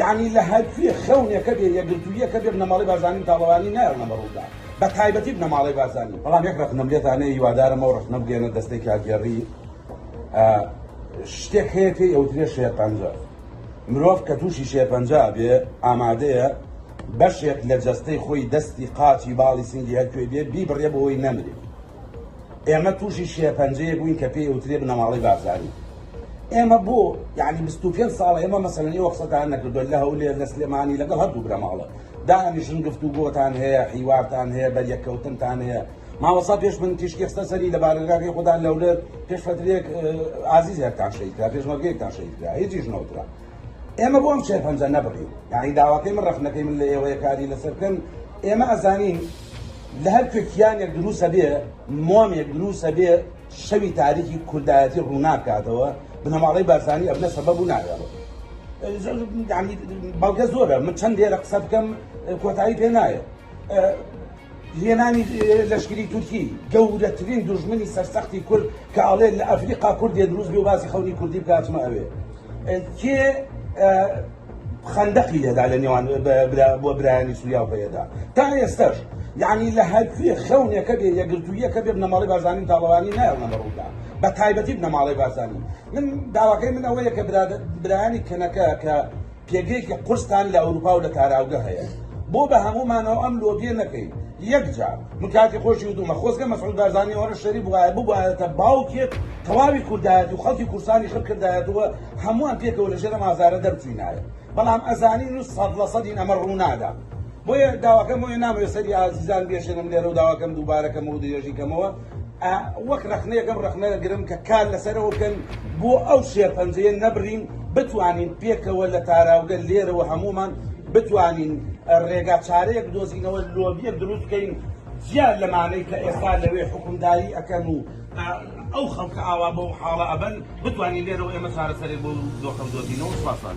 یەعنی لە هەرکوێ خەونێکە بێ یەکگرتووییەکە بێ بنەماڵەی بارزانی و تاڵەبانی نایەڵنە بەڕوودا بە تایبەتی بنەماڵەی بارزانی بەڵام یەک ڕەخنەم لێتان هەیە هیوادارم ئەو ڕەخنە بگەیەنە دەستەی کارگێڕی شتێک هەیە پێی ئەوترێ شێرپەنجە مرۆڤ کە تووشی شێرپەنجا بێ ئامادەیە بەشێک لە جەستەی خۆی دەستی قاچی باڵی سنگی هەرکوێ بێ بیبڕێ بۆی نەمرێ ئێمە تووشی شێرپەنجەیەک بووین کە پێی ئەوترێ بنەماڵەی بارزانی. ئێمە بۆ یانی بیست و پێنج ساڵە ئێمە مەسەلەن ئێوە قسەتان نەکردووە لە هەولێر لە سلێمانی لەگەڵ هەردوو بنەماڵە دانیشن گفتوگۆتان هەیە، حیوارتان هەیە، بەریەککەوتنتان هەیە. مامۆستا پێش من تیشکی خستە سەری لە بارەگاکەی خودان لە هەولێر پێش فەترەیەک ئازیزێکتان شەهید کرا، پێشمەرگەیەکتان شەهید کرا، هیچیش نەوترا. ئێمە بۆ ئەم شێرپەنجە نەبڕی یانی داواکەی من ڕەخنەکەی من لە ئێوەیە کاری لەسەر بکەن ئێمە ئەزانین لە هەر کوێ کیانێک دروسە بێ مۆمێک دروسە بێ شەوی تاریکی کوردایەتی ڕووناکاتەوە بنەماڵەی بارزانی ئەبنە سەبەب و ناوێڵە بەڵگە زۆرە من چەند دێرە قسە بکەم کۆتایی پێ نایە هێنانی لەشکری تورکی گەورەترین دوژمنی سەرسەختی کورد کە ئەڵێ لە ئەفریقا کوردێ دروست بێ و باسی خەونی کوردی بکە ئەچمە ئەوێ کێ خەندەقی لێدا لە نێوان بۆ برایانی سووریا و پەیەدا تا ئێستاش یعنی لە هەرکوێ خەونێکە بێ یەگرتوویەکە بێ بنەماڵی بارزانانی تاڵەوانی نایەڵە بەڕوودا بە تایبەتی بنەماڵی بارزانانی من داواکەی من ئەوەیە کە برایانی کەنەکە کە پێگەیەکی قورستان لە ئەوروپا و لە تاراوگە هەیە بۆ بە هەموومانەوە ئەم لۆبیە نەکەین یەک جار من کاتی خۆشی وتومە خۆزگە مەسعود بارزانی ئەوەنە شەری بوایە ببوایەتە باوکێک تەواوی کوردایەت و خەڵکی کورسانی خڕ کردایەتەوە هەمووان پێکەوە لە ژێرە مازارە دەرچوینایە بەڵام ئەزانین و سەد لە سەدین ئەمە ڕوونادا بۆیە داواکەم بۆیە نامەوێت سەری ئازیزان بێشێنم لێرە و داواکەم دووبارەکەمەوە درێژی کەمەوە وەک ڕەخنەیەک ئەم ڕەخنە دەگرم کە کار لەسەرەوە بکەن بۆ ئەو شێرپەنجەیە نەبڕین بتوانین پێکەوە لە تاراوگە لێرەوە هەمومان بتوانین ڕێگا چارەیەک بدۆزینەوە لۆبیەک دروست بکەین زیاد لەمانەی کە ئێستا لەوێ حکومداری ئەکەن و ئەو خەڵکە ئاوا بەو حاڵە ئەبن بتوانین لێرەوە ئێمە چارەسەرێک بۆ دۆخەم دۆزینەوە سوپاسان.